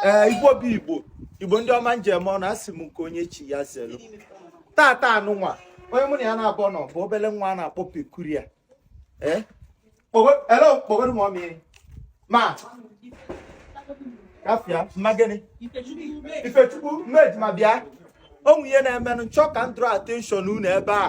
ee eh, igbo bụ igbo igbo ndị ọma njem ọnụ asị m nke onye chi ya zelu tata anụnwa onye mụ na ya naabọ nọ bụ obele nwa a na-akpọ Peculiar ee eh? elo kpogoro m ọmịrị ma kafia mma gịnị ifechukwu mmejima bịa o nwe ihe na-emenụ nchọ ka m draw attention unu ebe a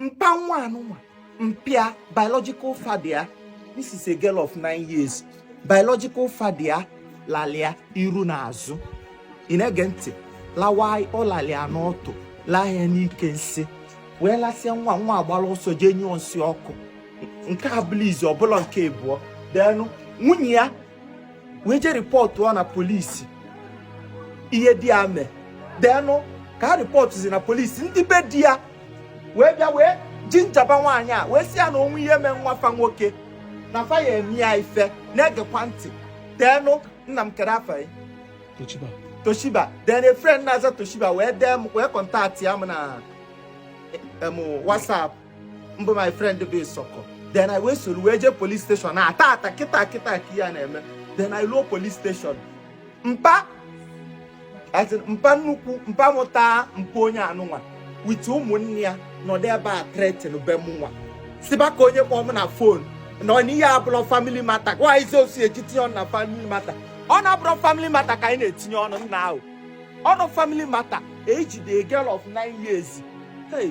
mpa nwa anụnwa mpa ya biological father ya this is a girl of nine years biological father ya lalị ya iru na azụ ị na-ege ntị lawa ọ lalị ya n'ọtụ laa ya n'ike nsị wee lasịa nwa nwa agbara ọsọ jee nyụọ nsị ọkụ nke a abụlọ izizi ọ bụlọ nke abụọ then nwunye ya wee jee rịpọtụọ na polisi ihe di ya mee then ka ha rịpọtụzi na polisi ndị be di ya wee bịa wee jinjaba nwaanyị a wee sị ya na o nwe ihe mee nwa fa nwoke na fa ya eme ya ife na-egekwa ntị then nna m kere afa ya toshiba then a friend na-aza toshiba wee dee m wee kọntaktịa m na WhatsApp mbụ my friend bụ Isoko then I wee soro wee jee police station tata kịta kịta ka ihe a na-eme then I ruo police station mpa mpa nnukwu mpa mụta mpa onye anụnwa with ụmụnne ya nọdụ ebe a threatenbe mụnwa sịba ka onye kpọọ m na phone na ọ n'ihe abụrọ family matter gwa izi osi eji tinye ọnụ na family matter ọ na-abụrọ family matter ka anyị na-etinye ọnụ now ọ na family matter ejide girl of nine years hey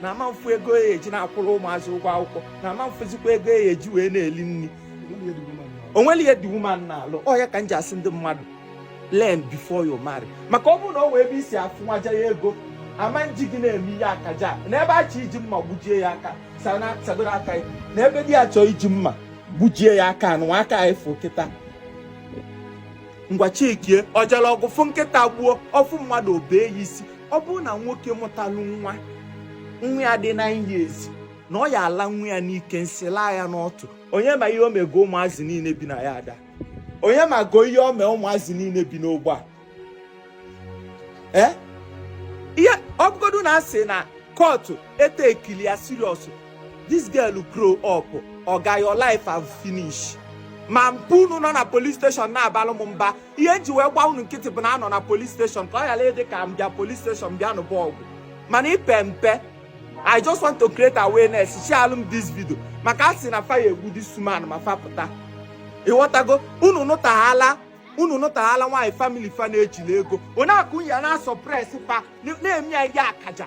na ama m fụ ego ya eji na-akwụrụ ụmụazị ụgwọ akwụkwọ na ama m fụzikwa ego ya eji wee na-eli nri o nwelọ ihe the woman na-alụ ọ ya ka m ji asị ndị mmadụ learn before you marry maka ọ bụrụ na o nwee ebe i si afụ nwaja ya ego ama eji gị na-eme ihe akaja na ebe a chọ iji mma gbujie ya aka sadoro aka ya na ebe di ya chọọ iji mma gbujie ya aka anụ aka ya efu kịta ngwa chikie ọjala ọgụ fụ nkịta gbuo ọ fụ mmadụ o bee ya isi ọ bụrụ na nwoke mụtalụ nwa nwa ya dị nine years na ọ ya ala nwa ya n'ike nsị laa ya n'ọtụ onye ma ihe o mego ụmụazị niile bi na yard a onye mago ihe o mee ụmụazị niile bi n'ogbe a ee ihe ọ bụgodu na a sị na court etekili ya serious this girl grow up oga your life have finish ma mpa unu nọ na police station na-abalụ m mba ihe nji wee gba unu nkịtị bụ na anọ na police station ka ọ yala ịdị ka m bịa police station bịa nụba ọgụ mana i pe mpe i just want to create awareness sharelụ m this video maka a sị na fa ya-egbu this woman ma fapụta ị ghọtago unu nụtaghala unu nụtaghala nwaanyị family fa na-ejila ego onye akụ ya na-asuppress fa na-eme ya ihe akaja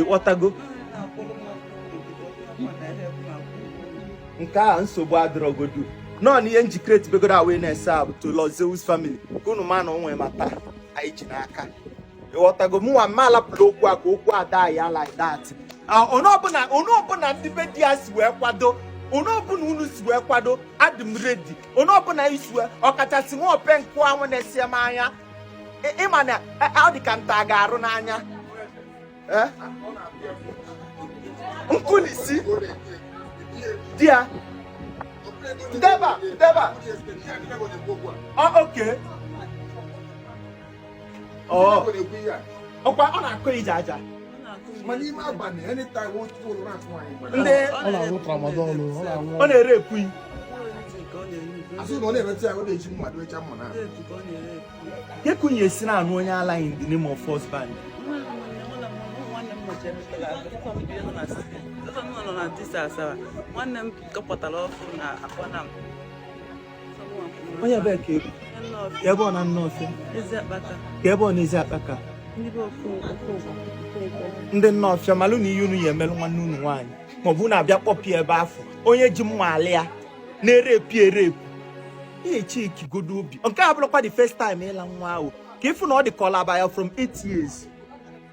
ịghọtago nke a nsogbu adịrọgodu nọ na ihe njikere tibegoro awareness a bụ to Zeus family ka unu ma na o nwe matter anyị ji n'aka ịghọtago mụnwa mma alapụla okwu a ka okwu a die like that onye ọbụla onye ọbụla ndị be di ya si wee kwado onye ọbụla unu si wee kwado adị m ready onye ọbụla i si wee ọkachasị nwa ope nkụ anwụ na-esi m anya ị ma na e, ọ dị ka nta ga-arụ n'anya eh? nkụ na isi di ya deba deba okay ọkwa ọ na-akụ ije aja ndị ọ na-ere ekwuyi ekwunye si na-anụ onye ala in the name of husband nwanne m kọpụtara ọkụ na akpọna m onye ebee ka ebu ka ebe ọ na Nawfia ka ebe ọ na Eziakpaka ndị Nawfia malụ na ihe unu ya-emelụ nwanne unu nwaanyị maọbụ unu abịa kpọpụ ya ebe afụ onye ji mma alị ya na-erepu erepu ihe chiki godo obi nke a bụrụkwa the first time ịla nwa ahụ ka ị fụ na ọ dị ka ọ laba ya from 8 years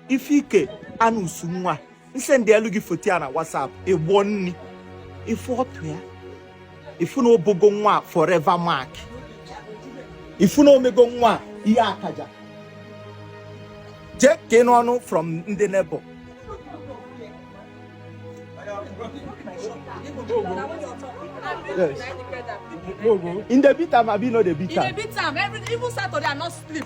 ife ike anụ usu nwa m sendịelu gị foto ya na WhatsApp ị gbọọ nni ị fụ ọtụ ya ị fụ na o bogo nwa forever mark ị fụ na o mego nwa ihe akaja jee ka ị nụ ọnụ from ndị neighbour Yes. Im dey beat am, abi no dey beat am. Im dey beat am, every even Saturday I not sleep.